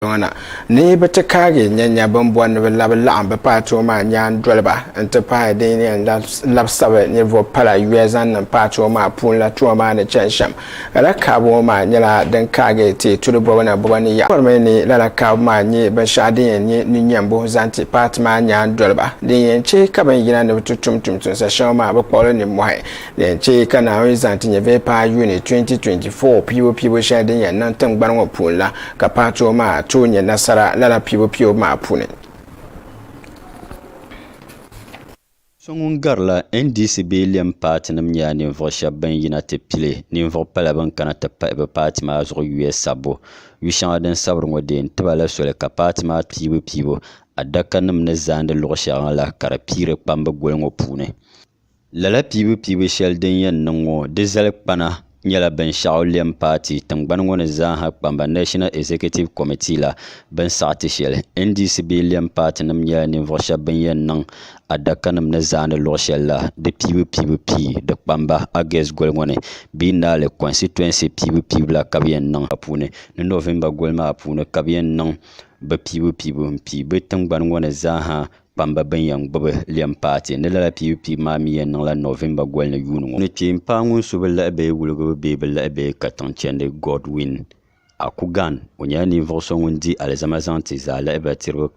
ŋana ni bɛ ti kaagi nyanya bɛn bɔri ni bɛ labi laɣim bɛ paatoo maa nyaan doliba n ti pahi din yɛn labisiri ninvuɣu pala yuya zaŋ niŋ paatoo maa puuni la tuma maa ni chani shɛm. Lala kaabu ŋɔ maa nyɛla din kaagi ti tuuli bɔbu na bɔbu ni yaɣa. Bɛ bɔrimi ni lala kaabu maa nyɛ binshɛɣu din yɛn nyɛ ninyɛmbu zaŋ ti paati maa nyaan doliba din yɛn chɛ ka bɛn yina ni bɛ ti tum tumtumsa shɛŋa maa bɛ kpuɣili nimmɔhi. Din chɛ ka Naawuni zaŋ ti nyɛvili paai Yuni 2024 piibu piibu shɛli din yɛn niŋ tiŋgbani ŋɔ puuni la ka paatoo maa tooi nyɛ nasara lala piibu piibu maa puuni. So ŋun garila NDC bee lɛm paatinim nyɛla ninvuɣ shɛb bɛn yina ti pili ninvuɣ pala bɛn kana ti pahi bɛ paati maa zuɣu yuya sabbu. Yu shɛŋa din sabiri ŋɔ deei tiba la soli ka paati maa piibu piibu adakanim ni zaandi luɣ shɛŋa la ka di piiri kpamba goli ŋɔ puuni. Lala piibu piibu shɛli din yɛn niŋ ŋɔ di zali kpana nyɛla binshɛɣu lɛm paati tiŋgbani ŋɔ ni zaaha kpamba National Executive Committee la bini saɣi ti shɛli. NDC bee lɛm paatinim nyɛla ninvuɣ shɛb bɛn yɛn niŋ adakanim ni zaani luɣ shɛli la di piibu piibu pii di kpamba August goli ŋɔ ni bee Naali constituency piibu piibu la ka bɛ yɛn niŋ puuni ni November goli maa puuni ka bɛ yɛn niŋ bɛ piibu piibu m-pii bɛ tiŋgbani ŋɔ ni zaaha kpamba bɛn yɛn gbubi lɛm paati ni lala piibu piibu maa mi yɛn niŋla Nɔvemba goli ni yuuni ŋɔ. Ni kpeen paai ŋun su bi lahi bɛ wuligibu bee bi lahi bɛ katiŋ chɛndi Godwin Akugan. O nyɛla ninvuɣ so ŋun di alizama zaŋ ti zaalihiba tiriba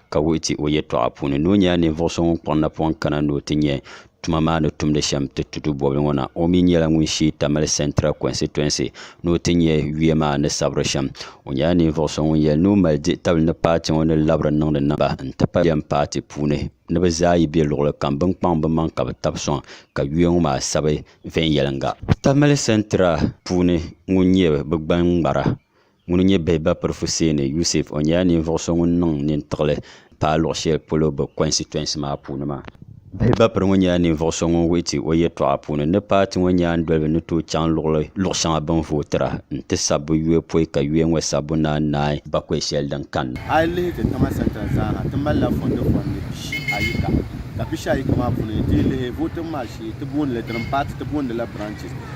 ka wuhi ti o yɛtɔɣa puuni ni o nyɛla ninvuɣ so ŋun kpuɣi napɔŋ kana ni o ti nyɛ tuma maa ni tumdi shɛm ti tutu bɔbili ŋɔ na. O mi nyɛla ŋun sheei Tamale Central Constituency ni o ti nyɛ yuya maa ni sabiri shɛm. O nyɛla ninvuɣ so ŋun yɛli ni o mali dihi tabili ni paati ŋɔ ni labiri niŋdi niŋ ba n-ti pahi lɛm paati puuni ni bɛ zaa yi be luɣili kam bɛ ni kpaŋ bɛ maŋ ka bɛ tab sɔŋ ka yuya ŋɔ maa sabi viɛnyɛliŋga. Tamale Central puuni ŋun nyɛ bɛ gbaŋ ŋmara Ŋuni n-nyɛ bihi ba Pirifuseeni Yusef. O nyɛla ninvuɣ so ŋun niŋ nintiɣili paai luɣ shɛli polo bɛ kɔnsitɔinsi maa puuni maa. Bihi ba Piri ŋɔ nyɛla ninvuɣ so ŋun wuhi ti o yɛtɔɣa puuni ni paati ŋɔ nyaandoliba ni tooi chaŋ luɣili luɣ shɛŋa bɛ ni vootira n-ti sabbu yuya pɔi ka yuya ŋɔ sabbu naan naai bakɔi shɛli din kanna. A yi lihi ti tiŋa santa zaaha, ti malila fɔndifɔndi pishi ayi ka ka pishi ayi ka maa puuni yi ti yi lihi vootibu maa shee ti booni li dini paati ti booni la branches.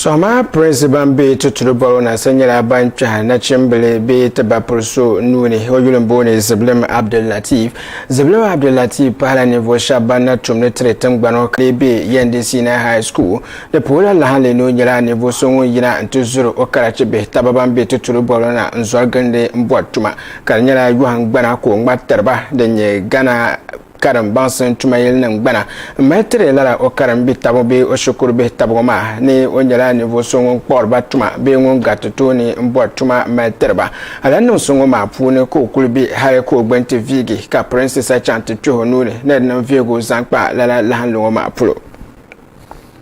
Sohima pirinsi ban be tuturi bɔbu na sa nyɛla ban kpɛhi nachimbili bee ti ba puli so nuu ni o yuli m-booni Zibilim Abdul Latif. Zibilim Abdul Latif pahila ninvuɣ shɛba ban na tum ni tiri tiŋgbani ŋɔ ka lee be Yendi Senior High School. Di puhila lahinli ni o nyɛla ninvuɣ so ŋun yina nti zuri o karachi bihi taba ban be tuturi bɔbu la na n-zɔri gilindi m-bɔri tuma ka di nyɛla yɔhingbana ka o ŋmari tiri ba din nyɛ Ghana karim baŋsim tuma yili niŋ gbana n mali tiri lala o karim bi tabu bee o shikuru bihi tabigu maa ni o nyɛla ninvuɣu so ŋun kpuɣiri ba tuma bee ŋun gariti tooni n bɔri tuma mali tiri ba alan niŋ so ŋɔ maa puuni ka o kuli be hali ka o gbini ti viigi ka pirinsisa chaŋ ti kpeh o nuuni ni di niŋ vihigu zaŋ kpa lala lahinli ŋɔ maa polo.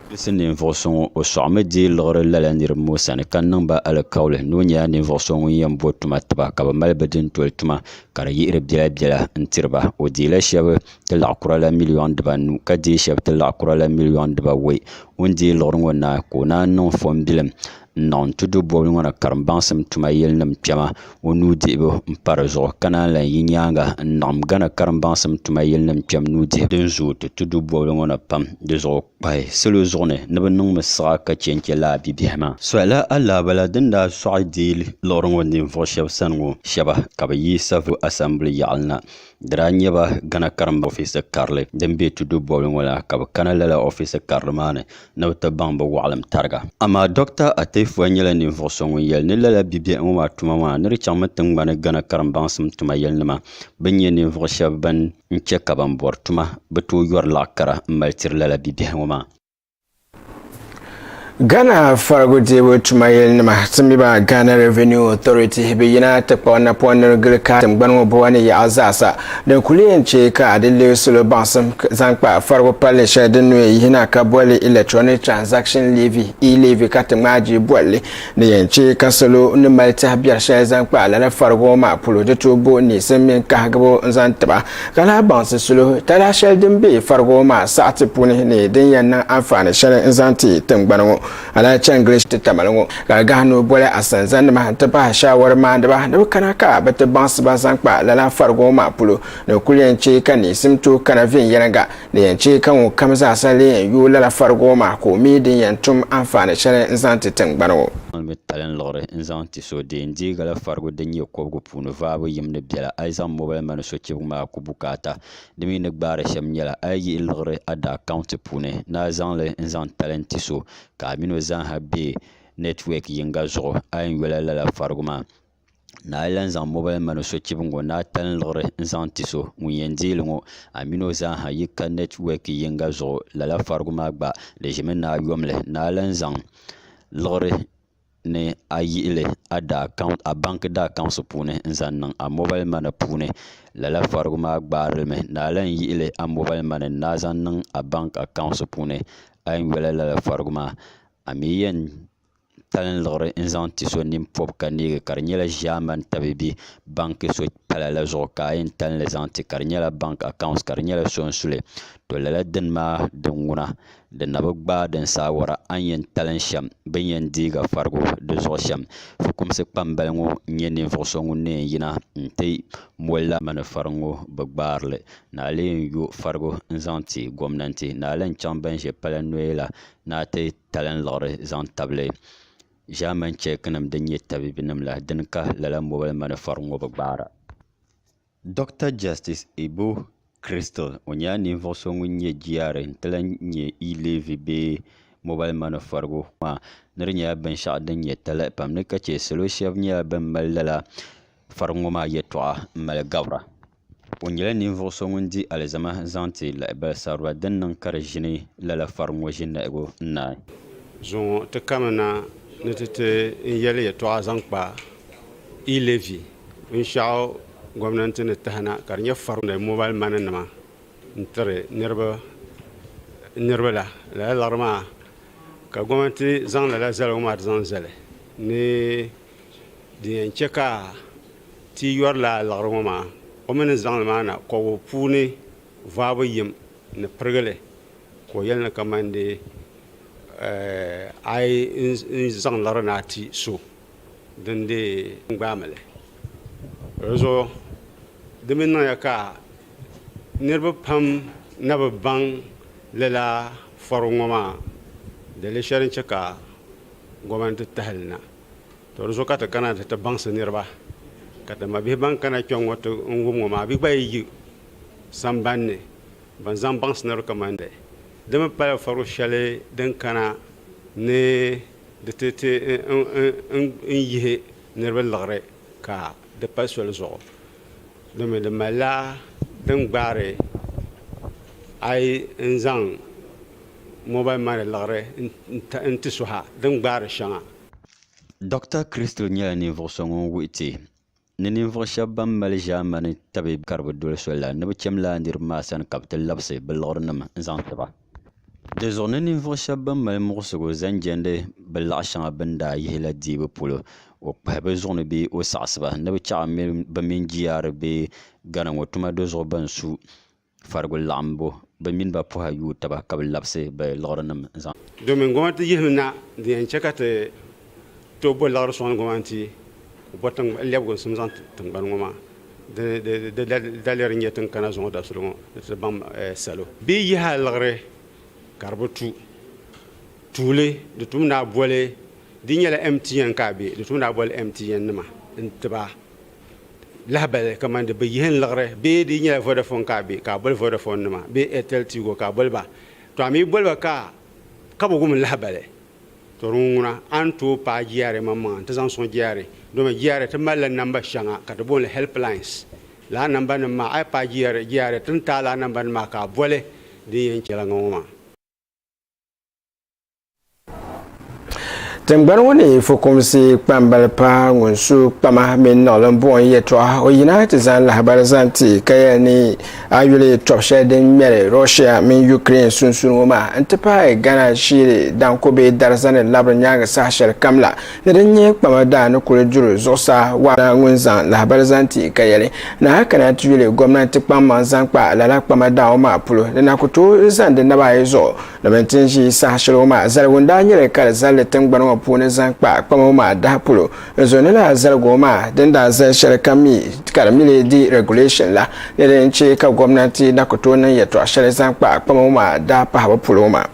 Gilisi ninvuɣu so ŋɔ o sɔɣimi dii liɣiri lala niriba ŋɔ sani ka niŋ ba alikauli ni o nyɛla ninvuɣu so ŋun yɛn bo tuma tiba ka bɛ mali bɛ dintoli tuma ka di yihiri biɛla biɛla n tiriba o deela shab ti laɣ kura la miliyon dibanu ka deei shab ti laɣ kura la miliyon dibawoi o ni deei liɣiri ŋo na ka o naan niŋ fombilim n niŋ n tudu bobli ŋo ni karimbaŋsim tuma yili nim kpɛma o nuu dihibu n pa dizuɣu ka naan lahi yi nyaanga n niɣim gana karimbaŋsim tuma yili nim kpɛm nuu dihibu din zooi ti tudu bobli ŋo ni pam dizuɣu pahi salo zuɣu ni ni bɛ niŋ mi siɣa ka che n-che lala bibiɛhi maa. Soyala alaabala din daa sɔɣi deei liɣiri ŋɔ ninvuɣ shɛb sani ŋɔ shɛba ka bɛ yi Savelugu Asɛmbili yaɣili na. Di daa nyɛba Ghana karimba ofiisa karili din be tudu bɔbili ŋɔ la ka bɛ kana lala ofiisa karili maa ni ni bɛ ti baŋ bɛ wɔɣilim tariga. Amaa Dɔkta Ateifuwa nyɛla ninvuɣ so ŋun yɛli ni lala bibiɛhi ŋɔ maa tuma maa ni di chaŋmi tiŋgbani Ghana karimbaŋsim tuma yɛlinima bɛn nyɛ ninvuɣ shɛb bɛn n chɛ ka ban bɔri tuma bi tooi yɔri laɣ kara m-mali tiri lala bibiɛhi ŋɔ maa. Ghana farigu deebu tuma yɛlinima, Timiba Ghana Revenue Authority, bi yina ti kpuɣi napɔŋ ni di gili kaai tiŋgbani ŋɔ boba ni yaɣa zaasa din kuli yɛn chɛ ka di leei salo baŋsim zaŋ kpa farigu palli shɛli din nuu yihina ka bolli Electronic Transaction Levy, E-Levy ka ti ŋmaai jii bolli. Ni yɛn chɛ ka salo ni mali tɛha biɛri shɛli zaŋ kpa lala farigu ŋɔ maa polo, di tooi bo niɣisim mini kahigibu n-zaŋ ti ba, ka lahi baŋsi sulihu talahi shɛli din be farigu ŋɔ maa saɣiti puuni ni din yɛn niŋ anfaani shɛli n-zaŋ ti tiŋgbani ŋɔ lala chɛngilish titamali ŋɔ. Ka gahi ni o boli asanzanima nti pahi shaawari maaniba ni bɛ kana ka bɛ ti baŋsi ba zaŋ kpa lala farigu ŋɔ maa polo, ni kul yɛn chɛ ka niɣisim tooi kana viɛnyɛliŋga, Di yɛn chɛ ka ŋɔ kam zaasa lee yɛn yooi lala farigibo maa ka o mi din yɛn tum anfaani shɛli n-zaŋ ti tiŋgbani ŋɔ. N ni mi tali n-liɣiri n-zaŋ ti so di yɛn deei lala farigu din nyɛ kɔbigu puuni vaabu yim ni bela a yi zaŋ mobal mani sochibigu maa ku bukaata. Di mi ni gbaari shɛm nyɛla a yi yihi liɣiri a di akaunti puuni ni a zaŋ li n-zaŋ tali n-ti so ka a min o zaaha be nɛtiwɛk yiŋga zuɣu a yɛn yola lala farigu maa. ni a yi lahi zaŋ mobal mani sochibi ŋɔ ni a tanliɣiri n-zaŋ ti so ŋun yɛn deei li ŋɔ, a mini o zaa ha yi ka network yiŋga zuɣu, lala farigu maa gba di ʒimi ni a yomli ni a lahi zaŋ liɣiri ni a yihi li a daa account, a bank daa accounts puuni n-zaŋ niŋ a mobal mani puuni, lala farigu maa gbaari li mi ni a lahi yihi li a mobal mani ni a zaŋ niŋ a bank accounts puuni a yɛn yola lala farigu maa a mi yɛn talin liɣiri n zaŋ ti so nini pɔbi ka neegi ka di nyɛla ʒaamani tabibi banki so pala la zuɣu ka a yɛn talli zaŋ ti ka di nyɛla banki akaant ka di nyɛla sunsuli to lala dini maa din ŋuna di na bi gbaai din saawara a ni yɛn talin shɛm bi ni yɛn deegi farigu di zuɣu shɛm fukumsi kpambali ŋɔ n-nyɛ ninvuɣ so ŋun ni yɛn yina n-ti moli lala mani fari ŋɔ bi gbaari li ni a lee yɛn yo farigu n-zaŋ ti gomnanti ni a lahi chaŋ ban ʒe pala noya la ni a ti talinliɣiri zaŋ tabili ʒaamɛn chɛki nim din nyɛ tabiibi nim la dini ka lala mobal manifɛri ŋɔ bi gbaara Dɔkta Jɛstis Ibu Kristol o nyɛla ninvuɣ so ŋun nyɛ GRA n-ti lahi nyɛ e-leevy bee mobal manifɛrigu maa ni di nyɛla binshɛɣu din nyɛ talahi pam ni ka chɛ salo shɛba nyɛla ban mali lala fɛrigu ŋɔ maa yɛtɔɣa m-mali gabira. O nyɛla ninvuɣ so ŋun di alizama zaŋ ti lahibal sarɔra din niŋ ka di ʒini lala fariŋ ŋɔ ʒiniahigu n-naai. Zuŋɔ ti kami na ni ti ti n yɛli yɛtɔɣa zaŋ kpa e-levy binshɛɣu gomnanti ni tahi na ka di nyɛ fariŋ ni mobal mani nima n-tiri niriba la. Lala liɣiri maa ka gomnanti zaŋ lala zaligu maa ti zaŋ zali ni din yɛn chɛ ka Ti yɔrila liɣiri ŋɔ maa o mi ni zaŋli maa na kɔbu puuni vaabu yim ni pirigi li ka o yɛli ni kamandi a yi zaŋ liɣiri na ti so din dii gbaami li di zuɣu di mi niŋya ka niriba pam na bi baŋ lala fɔrigu ŋɔ maa dali shɛli n-chɛ ka gɔmɛnti tahili na Tɔ! Di zuɣu ka ti kana nti ti baŋsi niriba, ka ti mabihi ban kana kpiɔŋ ŋɔ ti n wum ŋɔ maa bɛ gba yi yi samban ni bɛn zaŋ baŋsi niriba kaman di. Di mi pala fɔrigu shɛli din kana ni di ti ti n yihi niriba liɣiri ka di pali soli zuɣu, domin di malila din gbaari a yi n zaŋ mobal mani liɣiri n ti suhi a din gbaari shɛŋa. Dɔkta Crystal nyɛla ninvuɣ so ŋun wuhi ti ni ninvuɣ shɛb bɛn mali ʒiɛmani tabibi ka di bi doli soli la, ni bɛ cham lala niriba maa sani ka bɛ ti labisi bɛ liɣirinim n-zaŋ ti ba. Dizuɣu ni ninvuɣ shɛb bɛn mali muɣisigu zaŋ jɛndi bɛ laɣ shɛŋa bɛ ni daa yihi la dihibu polo, o kpahi bɛ zuɣu ni bee o saɣisi ba ni bɛ chaɣ bɛ mini GRA Ghana ŋɔ tuma do zuɣu bɛn su. Farigu laɣimbu bɛ mini ba pɔha yuui taba ka bɛ labisi bɛ liɣirinim zaŋ. Domin gomnati yihim na din yɛn chɛ ka ti tooi bo liɣiri sɔŋdi gomnati ku bo lɛbigimsim zaŋ ti tiŋgbani ŋɔ maa di daliya din nyɛ ti ni kana zuŋɔ dabisili ŋɔ ni ti baŋ salo bɛ yaha liɣiri ka di bi tu tuuli di tum daa boli di nyɛla MTN ka a be di tum daa boli MTN nima n-ti ba. lahabali kamani di bi yihi n liɣiri bee di yi nyɛla Vodafone ka a be ka a boli Vodafone nima bee Airtel Tigo ka a boli ba to a mi yi boli ba ka ka bi wum lahabali to di ŋuna a ni tooi paai GRA maŋmaŋa n ti zaŋ sɔŋ GRA domi GRA ti mali la namba shɛŋa ka ti booni help lines laa namba nim maa a yi paai GRA GRA ti ni taai laa namba nim maa ka a boli din yɛn chɛla ŋɔ ŋɔ maa. Tingbani ŋɔ ni fukumsi kpambali paɣa ŋun su kpama mini niɣilim buɣim yɛtɔɣa o yina ti zaŋ lahabali zaŋ ti ka yɛli ni a yuli tɔbu shɛli din ŋmɛri Russia mini Ukraine sunsuuni ŋɔ maa n ti pahi Ghana ʒiri danko bee dariza ni labiri nyaangi saha shɛli kam la ni din nyɛ kpama daa ni kuli duri zuɣusaa waana ŋun zaŋ lahabali zaŋ ti ka yɛli ni a kana ti yuli gomnanti kpaŋmaŋ zaŋ kpa lala kpama daa ŋɔ maa polo ni na ku tooi zaŋdi naba ayi zuɣu Domin ti ni ʒi saha shɛli ŋɔ maa, zaligu n daa nyɛli ka di zalli tiŋgbani ŋɔ puuni zaŋ kpa kpama ŋɔ maa daha polo. N zo ni lala zaligu ŋɔ maa din daa zali shɛli ka mi ka di mili di regulation la ni di ni chɛ ka gomnanti na ku tooi niŋ yɛltɔɣa shɛli zaŋ kpa kpama ŋɔ maa daha pahibu polo ŋɔ maa.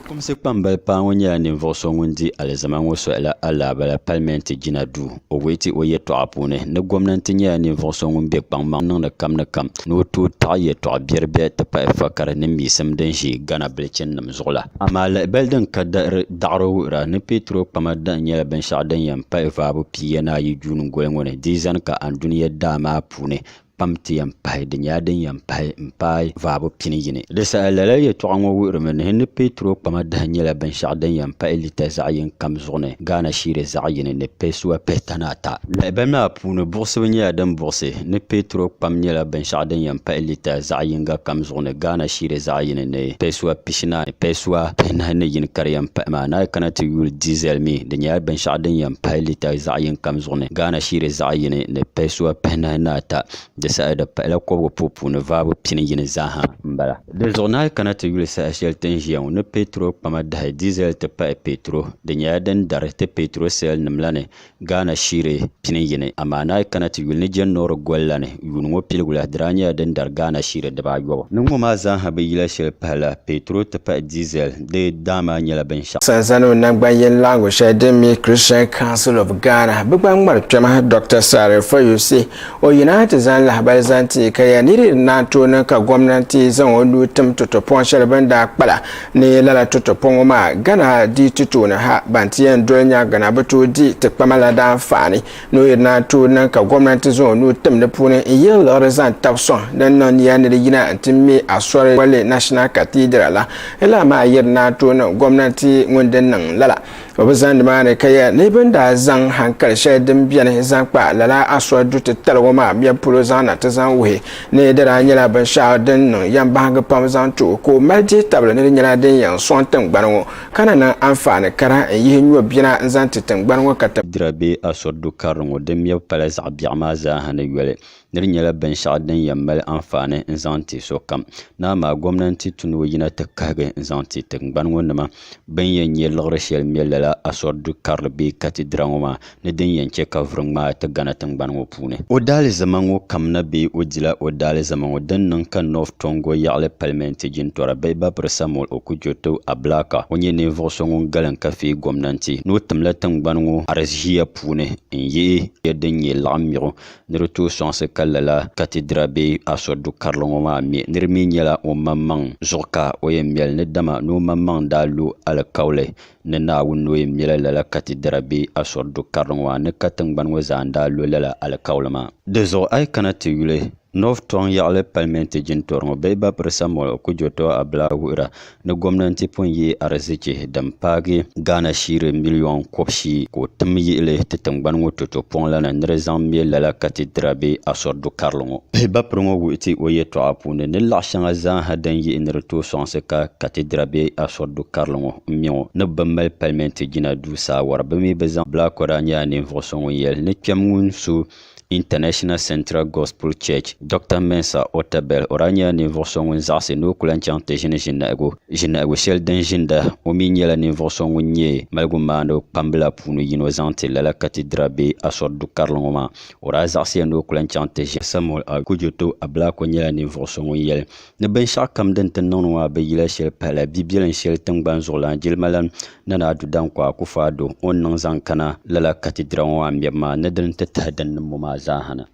Fukumsi kpambali paɣa ŋɔ nyɛla ninvuɣu so ŋun di alizama ŋɔ sohi la alaabala palimenti jina duu. O wuhi ti o yɛtɔɣa puuni ni gomnanti nyɛla ninvuɣ so ŋun be kpaŋmaŋ niŋdi kam ni kam ni o tooi taɣi yɛtɔɣ biɛri biɛri ti pahi fa kari ni miisim din ʒi Ghana bilichininim zuɣu la. Amaa lahibali din ka dari daɣiri wuhira ni peetroo kpama dahin nyɛla binshɛɣu din yɛn pahi vaabu pia ni ayi juuni goli ŋɔ ni di zani ka Anduniya daa maa puuni kpam ti yɛn pahi, di nyɛla din yɛn pahi m-paai vaabu pini yini. Di saha lala yɛtɔɣa ŋɔ wuhirimi ni ni Petro kpama dahi nyɛla binshɛɣu din yɛn pahi lita zaɣ yini kam zuɣu ni Ghana shiri zaɣ yini ni pɛsuwa pihitani ata. Lahibahi maa puuni buɣisibu nyɛla din buɣisi ni Petro kpam nyɛla binshɛɣu din yɛn pahi lita zaɣ yiŋga kam zuɣu ni Ghana shiri zaɣ yini ni pɛsuwa pihitani ata. pishinaayi payisua pihinahi ni yini ka di yɛn pahi maa, ni a yi kana ti yuli diesel mi, di nyɛla binshɛɣu din yɛn pahi lita zaɣ yini kam zuɣu ni Ghana shiri zaɣ yini ni payisua pihinahi ni ata. Di saha di pahila kɔbigu puhi puuni vaabu pini yini zaaha m-bala. Di zuɣu ni a yi kana ti yuli saha shɛli ti ni ʒiya ŋɔ ni petrol kpama dahi diesel ti pahi petrol, di nyɛla din dari ti petrol sale nim la ni Ghana shire pini yini, amaa ni a yi kana ti yuli ni Jane Norrick goli la ni, yuun ŋɔ piligu la di daa nyɛla din dari Ghana shire dibaa ayobu. Ni ŋɔ maa zaaha bi yila shɛli pahi la, petrol ti pahi diesel, di daa maa nyɛla binshɛɣu. Sanzaniw nangban yini laɣingu shɛli din mi Christian Council of Ghana, bɛ gba ŋmari kpɛma Dɔkta Sareh Foyose. O yina ha ti zaŋ lahibali zaŋ ti ka ya ni di ni daa tooi niŋ ka gomnanti zaŋ o nuu tim totopɔŋ shɛli bɛ ni daa kpa la Ni lala toto pɔŋɔ maa, Ghana di ti tooni ha, ban ti yɛn doli nyaaŋa na bi tooi di ti kpama la daa faani ni o yirina tooi niŋ ka gomnanti zaŋ o nuu tim di puuni n yihi liɣiri zaŋ tabi sɔŋ din niŋ niya ni di yina n ti me asɔri bolli National Cathedral la. Lala maa yirina tooi niŋ gomnanti ŋun di niŋ lala. O bi zaŋ nimaani ka yɛli ni bini daa zaŋ hankali shɛli din bɛni zaŋ kpa lala Asua du titali ŋɔ maa mɛbu polo zaŋ na ti zaŋ wuhi ni di daa nyɛla binshɛɣu din niŋ yɛmbahingi pam zaŋ ti o ka o mali dihi tabili ni di nyɛla din yɛn sɔŋ tiŋgbani ŋɔ ka na niŋ anfaani kara n yihi nyɔ bina n zaŋ ti tiŋgbani ŋɔ ka ti dira bee Asua du karili ŋɔ din mɛbu pala zaɣ biɛɣu maa zaa ha ni yoli ni di nyɛla binshɛɣu din yɛn mali anfaani n zaŋ ti sokam ni amaa gomnanti tu ni o yina ti kahigi n zaŋ ti tingbani ŋɔ nima bɛn yɛn nyɛ liɣiri shɛli me lala Asɔr du karili bee Katidira ŋɔ maa ni din yɛn chɛ ka vuri ŋmaai ti Gana tingbani ŋɔ puuni. O daalizama ŋɔ kam na bee o dila o daalizama ŋɔ din niŋ ka North Tongo yaɣili palimɛnti jintɔra bihibapiri Samuel Okudjoto Ablaka ŋɔ nyɛ ninvuɣ so ŋun galim ka feei gomnanti ni o timla tingbani ŋɔ arizhiya puuni n-yihi ya din nyɛ laɣim miɣu ni di tooi sɔŋsi ka lala katidira bee asuri du karili ŋɔ maa me ni di mi nyɛla o maŋmaŋ zuɣu ka o yɛn meli ni dama ni o maŋmaŋ daa lo alikauli ni Naawuni ni o yɛn mela lala katidira bee asuri du karili ŋɔ maa ni ka tiŋgbani ŋɔ zaa n-daa lo lala alikauli maa. Dizuɣu a yi kana ti yuli North Tɔŋ yaɣili palimenti jintɔri ŋɔ Bɛhiba Pirisa Mɔlɔ Kujotɔ Abila wuhira ni gomnanti pun ye arizichi din paagi Ghana shiri miliyon kɔb'shii ka o tim yihili ti tingbani ŋɔ toto pɔŋ la ni ni di zaŋ me lala Katidira bee Asɔri du karili ŋɔ. Pihibapiri ŋɔ wuhi ti o yɛltɔɣa puuni ni laɣ shɛŋa zaaha din yihi ni di tooi sɔŋsi ka Katidira bee Asɔri du karili ŋɔ m-me ŋɔ ni bɛ bi mali Palimenti jina duu saawara bɛ mi bi zaŋ Blackwell daa nyɛla ninvuɣ so ŋun yɛli ni kpɛm ŋun su International Central Gospel Church, Doctor Mensah Otabil o daa nyɛla ninvuɣ so ŋun zaɣisi ni o ku lan chaŋ ti ʒini ʒinihigu ʒinihigu shɛli din ʒinda. O mi nyɛla ninvuɣ so ŋun nyɛ maligumaaniba kpambila puuni yino zaŋ ti lala Katidira bee Asɔri du karili ŋɔ maa. O daa zaɣisiya ni o ku lan chaŋ ti ʒini. Samuel A. Kujoto Ablakwa nyɛla ninvuɣ so ŋun yɛli ni binshɛɣu kam din ti niŋdi ŋɔ maa bi yila shɛli pahila bibilinim shɛli tiŋgbani zuɣulan jilimalana Nana Addo Dankwa Akuffo Addo o ni niŋ zaŋ kana lala katidira ŋɔ maa mɛbu maa ni di ni ti tahi din niŋ ŋɔ maa zaa ha na.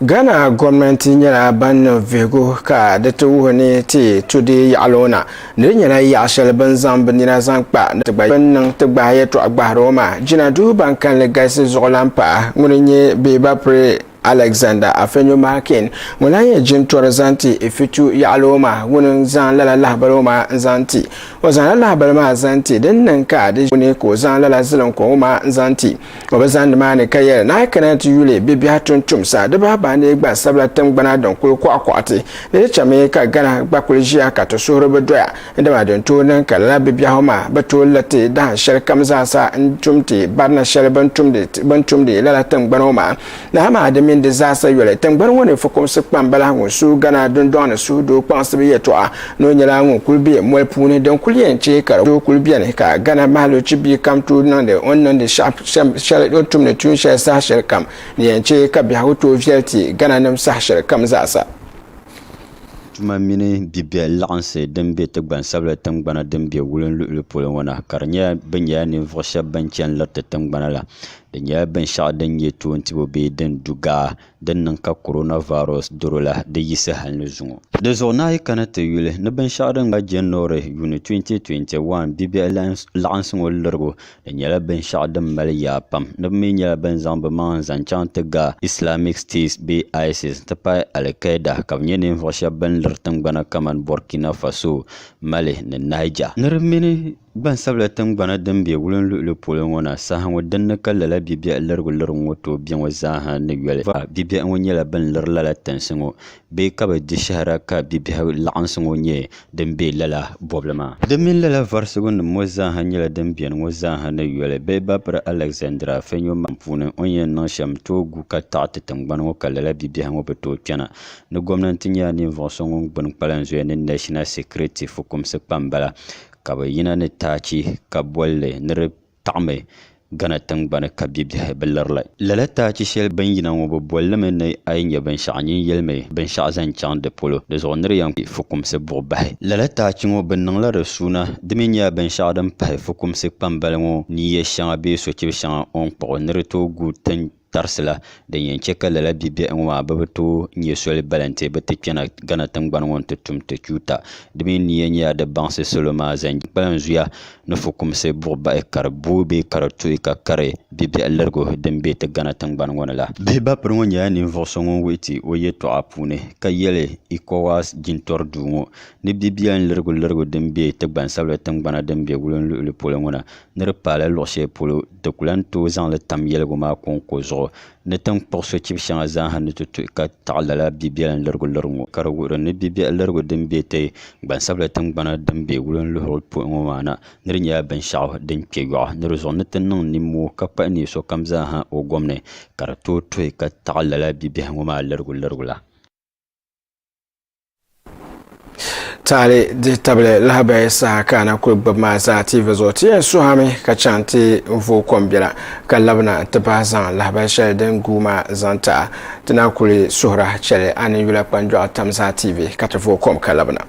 Ghana gomnanti nyɛla ban niŋ vihigu ka di ti wuhi ni ti tu di yaɣili ŋɔ na ni di nyɛla yaɣi shɛli bɛ ni zaŋ bɛ nina zaŋ kpa ni ti gba bɛ ni niŋ ti gbahi yɛltɔɣa gbahiri ŋɔ maa jina duu ban kalinli galisi zuɣulan paɣa ŋuni n-nyɛ Bee Bapre Alexander Afenyo Markin ŋun lahi nyɛ jintɔri zaŋ ti Ifitu yaɣili o maa ŋuni n-zaŋ lala lahibali o maa n-zaŋ ti. O zaŋla lahibali maa zaŋ ti din niŋ ka di ʒi o ni ka o zaŋ lala ziliŋkɔŋ o maa n-zaŋ ti. O bi zani nimaani ka yɛli ni a yi kana ni ti yuli bibiɛhi tuntumsa di bahi bahi ni gbansabila tiŋgbana din kuli kɔɣikɔɣiti ni di chami ka Ghana gba kuli ʒiya ka ti suhuri bi doya. Dama din tooi niŋ ka lala bibiɛhigu maa bi tooi la ti dahin shɛli kam zaa sa n-tum ti barina shɛli bɛ ni tumdi bɛ ni tumdi lala tiŋgbani ŋɔ maa ni amaa di mini di zaa sa yoli. Tiŋgbani ŋɔ ni fukumsi kpambala ŋun suui Ghana dundɔŋ ni suhudoo kpaŋsibu yɛltɔɣa ni o nyɛla ŋun kuli be moli puuni din kuli yɛn chɛ ka di tooi kuli beni ka Ghana mahalochi bia kam tooi niŋdi o ni niŋdi shɛli o ni tumdi tuun shɛli saha shɛli kam ni yɛn chɛ ka biɛhigu tooi viɛli ti Ghana nim saha shɛli kam zaa sa. tuma mini bibiɛhi laɣinsi din be ti gbansabila tiŋgbana din be wulinsi luɣili polo ŋɔ na ka di nyɛla bɛ nyɛla ninvuɣ shɛb bɛn chani liri ti tiŋgbana la. Di nyɛla binshɛɣu din nyɛ toontibo bee din du gaa din niŋ ka coronavirus doro la di yisi hal ni zuŋɔ. Di zuɣu na a yi kana ti yuli ni binshɛɣu din gba January, Yuni 2021 bibiɛhi laɣinsi ŋɔ lirigu Di nyɛla binshɛɣu din mali yaa pam ni bɛ mi nyɛla ban zaŋ bɛ maŋa n-zaŋ chaŋ ti ga Islamic State bee ISIS n-ti pahi Al-Qaeda ka bɛ nyɛ ninvuɣ shɛba bɛn liri tiŋgbana kamani Burkina Faso, Mali ni Niger. Ni di mini gbansabila tiŋgbana din be wulim luɣili polo ŋɔ na saha ŋɔ din ni ka lala bibiɛhi lirigu lirigu ŋɔ tooi be ŋɔ zaa ha ni yoli. Bibiɛhi ŋɔ nyɛla bɛn liri lala tinsi ŋɔ bee ka bɛ di shɛhira ka bibiɛhigu laɣinsi ŋɔ nyɛ din be lala bɔbili maa. Di mini lala varisigunima ŋɔ zaaha nyɛla din beni ŋɔ zaaha ni yoli bee bapiri Alɛgizandira fenyo maŋ puuni o ni yɛn niŋ shɛm tooi gu ka taɣi ti tiŋgbani ŋɔ ka lala bibiɛhigu ŋɔ bi tooi kpɛna. Ni gomnanti nyɛla ninvuɣ so ŋun gbini kpalan zoya ni Nashina Sikiriti fukumsi kpamba la, ka bɛ yina ni taachi ka bol li ni di taɣimi Ghana tingbani ka bibiɛhi bi liri li. Lala taachi shɛli bini yina ŋɔ bɛ boli li mi ni a yi nya binshɛɣu nyin yɛli mi binshɛɣu zaŋ chaŋ di polo di zuɣu ni di yɛn kpi fukumsi buɣi bahi. Lala taachi ŋɔ bɛ niŋ la di suuna di mi nyɛla binshɛɣu din pahi fukumsi kpambali ŋɔ ni ya shɛŋa bee sochibi shɛŋa o ni kpuɣi ni di tooi guui tin tarisi la din yɛn chɛ ka lala bibiɛhi ŋɔ maa bɛ bi tooi nyɛ soli bala nti bi ti kpɛna Ghana tiŋgbani ŋɔ nti tum ti chuuta. Di mi nia nyɛla di baŋsi salo maa zaŋ gbi kpalanzuya ni fukumsi buɣibahi ka di booi bee ka di tuhi ka kari bibiɛhi lirigu din be ti Ghana tiŋgbani ŋɔ ni la. Bihi bapiri ŋɔ nyɛla ninvuɣ so ŋun wuhi ti o yɛtɔɣa puuni ka yɛli Ecowas jintɔri duu ŋɔ ni bibiɛhi lirigu lirigu din be ti gbansabila tiŋgbana din be wulin luɣili polo ŋɔ na ni di paai la luɣ shɛli polo Di ku lan tooi zaŋ li tam yɛligu maa kɔŋko zuɣu ni ti ni kpuɣ sochibi shɛŋa zaaha ni ti tuhi ka taɣi lala bibiɛlim lirigu liri ŋɔ, ka di wuhiri ni bibiɛhi lirigu din be ti gbansabila tiŋgbana din be wulinluhurili polo ŋɔ maa na ni di nyɛla binshɛɣu din kpe yɔɣu ni di zuɣu ni ti niŋ nimmoo ka kpahi neei sokam zaaha o gom ni ka di tooi tuhi ka taɣi lala bibiɛhi ŋɔ maa lirigu lirigu la. taali dihi tabili lahabaya saha ka na kuli gbubi maa zaa tiivi zuɣu ti yɛn suhami ka chaŋ ti n vooi kom biɛla ka labina ti bahi zaŋ lahabali shɛli din guui maa zaŋ taɣa ti na kuli suhura chɛli a ni yula kpanjɔɣu tam zaa tiivi ka ti vooi kom ka labina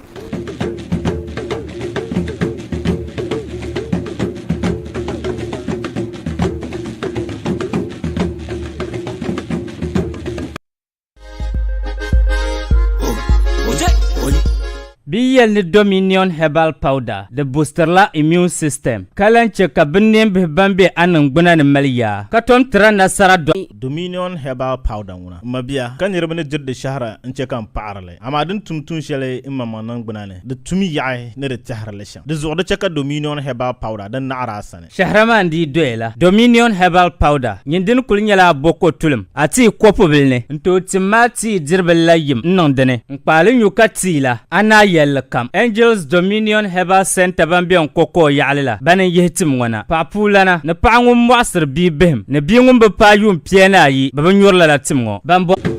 Bɛ yi yɛli ni Dominion Herbal Powder di busitirila immune system ka lan chɛ ka binneenbihi ban be a niŋgbuna ni mali yaa ka tom tira nasara. Dominion Herbal Powder ŋuna m mabia ka niriba ni diri di shɛhira n-chɛ ka n paɣiri li. Amaa din tum tuun shɛli m maŋmaŋ niŋgbuna ni, di tumi yaɣi ni di tɛhiri li shɛm. Di zuɣu di chɛ ka Dominion Herbal Powder di naɣiri a sani. Shɛhira maa n dii doya la, Dominion Herbal Powder nyin dini kuli nyɛla a bo ko tulim a tii kopubili ni. N tooi tim ma a tii diribili la yim n niŋ dini. N kpaali nyu ka tii la, a ni a yɛlli kam. Angels Dominion Herbal Centre ban be n ko koo yaɣili la bani n yihi tim ŋɔ na. Paɣa puulana ni paɣa ŋun mɔɣisiri bia bihim ni bia ŋun bi paai yuun pia ni ayi bɛ bi nyuri lala tim ŋɔ. Ban bɔri.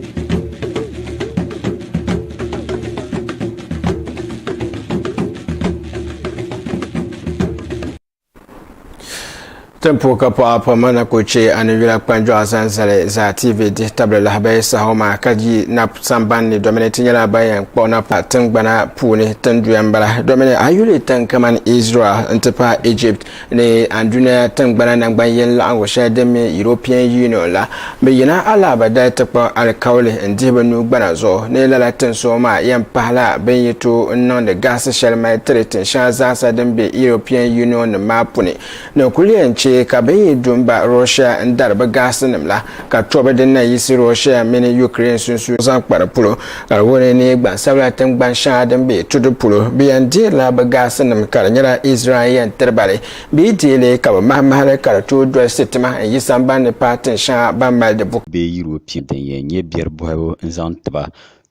Tempo ka pɔɣa pa ma na ko che a ni yula kpanjɔɣu zaŋ zali zaa TV dihi tabili lahabaya saha ma ka yi nap samban ni domini ti nyɛla ban yɛn kpuɣi na pa tingbana puuni tinduya n bala domini a yuli tin kamani Israel n ti pahi Egypt ni andunia tingbana nangban yɛn laɣingu shɛli din mi European Union la Bɛ yina alaaba dali ti kpa alikauli n-dihi bɛ nuu gbana zuɣu ni lala tinsuɣu maa yɛn pahila bɛ ni yi tooi niŋdi gahisi shɛli mali tiri tinshɛŋa zaasa din be European Union nim maa puni ni kuli yɛn che ka bɛ ni yi du m-ba Russia n-dari bɛ gahisinim la ka tɔbi din na yiɣisi Russia mini Ukraine sunsuuni zaŋ kpa di polo. Ka di wuni ni gbansabila tiŋgbani shɛŋa din be tudi polo bɛ yɛn deerila bɛ gahisinim ka di nyɛla Israel yɛn tiri ba li. Bɛ yi deei li ka bɛ mahi mahili ka di tooi dolisi tima n-yi samban ni paai tin shɛŋa ban mali di buku. bee Yurɔpia din yɛn nyɛ biɛri bɔhibu n-zaŋ ti ba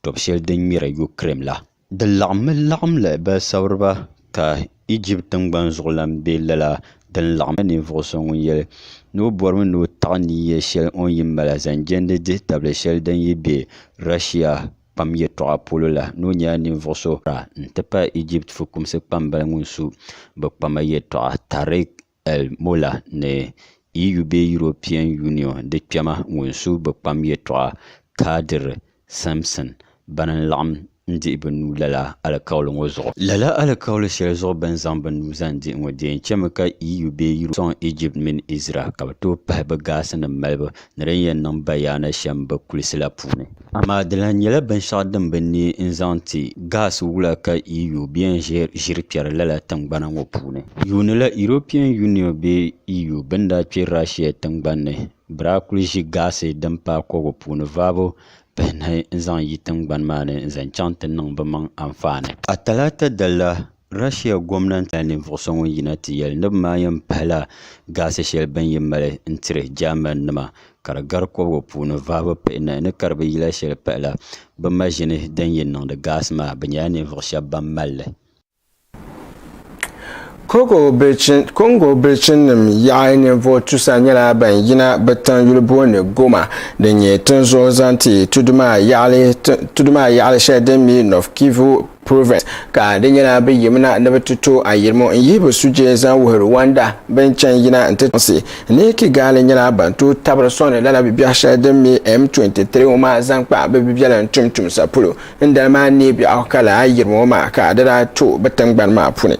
tɔb shɛli din ŋmɛri Yukirɛn la. Di laɣimmi laɣimli balisabiriba ka Ijipti tiŋgbani zuɣulan be lala din laɣimmi ninvuɣ so ŋun yɛli ni o bɔrimi ni o taɣi ni yɛl shɛli o ni yi mala zaŋ jɛndi dihitabili shɛli din yi be Rashia kpam yɛtɔɣa polo la ni o nyɛla ninvuɣ so Ra n-ti pahi Ijipti fukumsi kpambali ŋun su bɛ kpama yɛtɔɣa Tariq el-Molla ni EU bee European Union di kpɛma ŋun su bɛ kpam yɛtɔɣa Qadir Simpson bana n-laɣim n-dihi bɛ nuu lala alikauli ŋɔ zuɣu. Lala alikauli shɛli zuɣu bɛ ni zaŋ bɛ nuu zaŋ dihi ŋɔ di yɛn chɛmi ka EU bee Europe sɔŋ Ijipti mini Izraɛl ka bɛ tooi pahi bɛ gaasinim malibu ni din yɛn niŋ bayaana shɛm bɛ kulisi la puuni. Amaa di lahi nyɛla binshɛɣu din bi neei n-zaŋ ti gas wula ka EU bɛ yɛn ʒiri kpɛri lala tiŋgbana ŋɔ puuni. Yuuni la European Union bee EU bɛ ni daa kpe Russia tiŋgbani ni bɛ daa kuli ʒi gas din paai kɔgu puuni vaabu pahinahi n-zaŋ yi tiŋgbani maa ni n-zaŋ chaŋ ti niŋ bɛ maŋ anfaani. A Talaata dali la Russia gomnanti nyɛla ninvuɣ so ŋun yina ti yɛli ni bɛ maa yɛn pahila gaasi shɛli bɛ ni mali n-tiri Jɛmanima ka di gari kɔbiga puuni vahibu pihinahi ni ka di bi yila shɛli pahila bɛ maʒini din yɛn niŋdi gaasi maa bɛ nyɛla ninvuɣ shɛba ban mali li. Kɔŋgo bilichinim yaɣa ninvuɣ tusa nyɛla ban yina bɛ tiŋ yuli booni Goma din nyɛ tinzuɣu zaŋ ti tudu maa yaɣili shɛli din mi Nord-Kivu Proverbs, ka di nyɛla bɛ yimina ni bɛ ti to ayirimo n-yihi bɛ sujee zaŋ wuhiri Wanda bɛn chani yina nti tiŋsi ni Kigali nyɛla ban tooi tabiri sɔŋdi lala bibiɛɣu shɛli din mi M23 ŋɔ maa zaŋ kpa bɛ bibiɛlim tumtumsa polo n dali maa neei biɛɣu ka lala ayirimo ŋɔ maa ka di daa to bɛ tiŋgbani maa puni.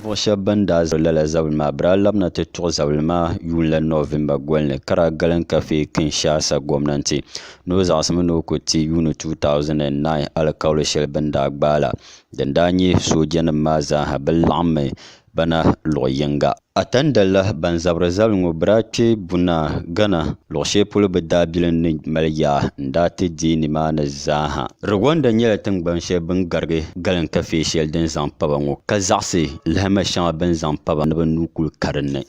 Ninvuɣ shɛb bɛn daa zali lala zabili maa bɛ daa labina ti tuɣi zabili maa yuun la Nɔvemba goli ni ka daa galim ka Fei Kinshasa gomnanti ni o zaɣisimi ni o ku ti yuuni 2009 alikauli shɛli bɛ ni daa gbaai la din daa nyɛ soojanima maa zaaha bi laɣimmi ba na luɣ yiŋga. Atanda la ban zabiri zabili ŋɔ bɛ daa kpe Bunaa, Ghana, luɣ shɛli polo bɛ daabilim ni mali yaa n-daa ti deei nimaani zaaha. Rwanda nyɛla tiŋgban shɛli bɛ ni garigi galin kafee shɛli din zaŋ pa ba ŋɔ, ka zaɣisi lahima shɛŋa bɛ ni zaŋ pa ba ni bɛ nuu kuli ka din ni.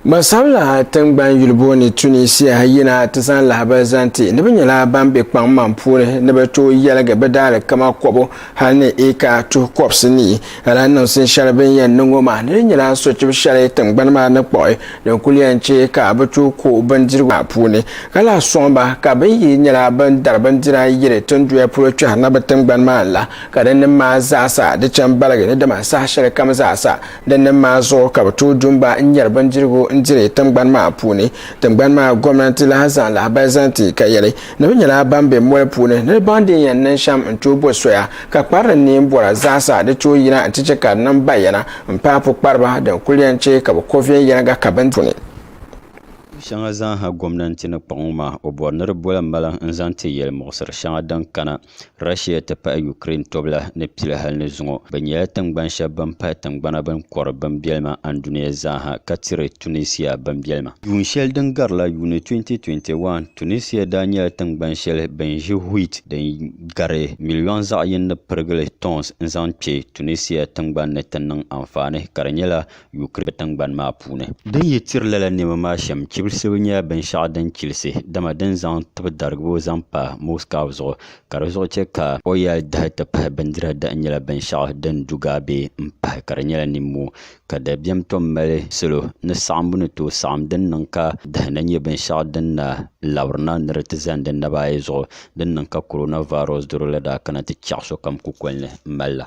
Gbansabila tingbani yuli booni Tunisia yina ti zaŋ lahabali zaŋ ti ni bɛ nyɛla ban be kpaŋmaŋ puuni ni bɛ tooi yɛligi bɛ daalikama kɔbu hali ni eeka tuhi kɔbisi nii. Lala niŋsim shɛli bɛ ni yɛn niŋ ŋɔ maa ni di nyɛla sochib shɛli tingbani maa ni kpuɣi din kuli yɛn chɛ ka bɛ tooi ko bindirigu maa puuni ka lahi sɔŋ ba ka bɛ yi nyɛla ban dari bindira yiri tinduya polo kpɛhirina bɛ tingbani maa la Ka din nim maa zaasa di cham baligi ni dama saha shɛli kam zaasa din nim maa zuɣu ka bɛ tooi du m-ba n-nyari bindirigu n-diri tiŋgbani maa puuni. Tiŋgbani maa gomnanti lahi zaŋ lahibali zaŋ ti ka yɛli ni bɛ nyɛla ban be moli puuni ni di baŋ din yɛn niŋ shɛm n-tooi bo soya ka kpari din neen bɔra zaasa di tooi yina nti chɛ ka di niŋ bayana m-paai pukpariba din kul yɛn chɛ ka bɛ ko viɛnyɛliŋga ka bɛ puuni shɛŋa zaasa gomnanti ni kpaŋ o maa o bɔri ni di bola maliŋ n-zaŋ ti yɛlimuɣisiri shɛŋa din kana. Russia ti pahi Ukraine tobila ni pili hali ni zuŋɔ. Bɛ nyɛla tiŋgbani shɛba bɛn pahi tiŋgbana bɛn kɔri bimbɛlima Andunia zaaha ka tiri Tunisia bimbɛlima. Yuun shɛli din garila Yuuni 2021, Tunisia daa nyɛla tiŋgbani shɛli bɛn ʒi wheat din gari miliɔŋ zaɣ yini ni pirigili tons n-zaŋ kpe Tunisia tiŋgbani ni ti niŋ anfaani ka di nyɛla Yukirɛn tiŋgbani maa puuni. Din yi tiri lala nɛma maa shɛm chibilisibu nyɛla binshɛɣu din chilisi, dama din zaŋ tibi darigibo zaŋ pa Moscow zuɣu ka di zuɣu chɛ ka o yali dahi ti pahi bindira dahi nyɛla binshɛɣu din du gaabe m-pahi ka di nyɛla nimmoo ka dabiɛm tom mali salo ni saɣimbu ni tooi saɣim din niŋ ka dahi na nyɛ binshɛɣu din na labiri na ni di ti zani di naba ayi zuɣu din niŋ ka coronavirus doro la daa kana ti chɛɣu sokam kukoli ni m-mali la.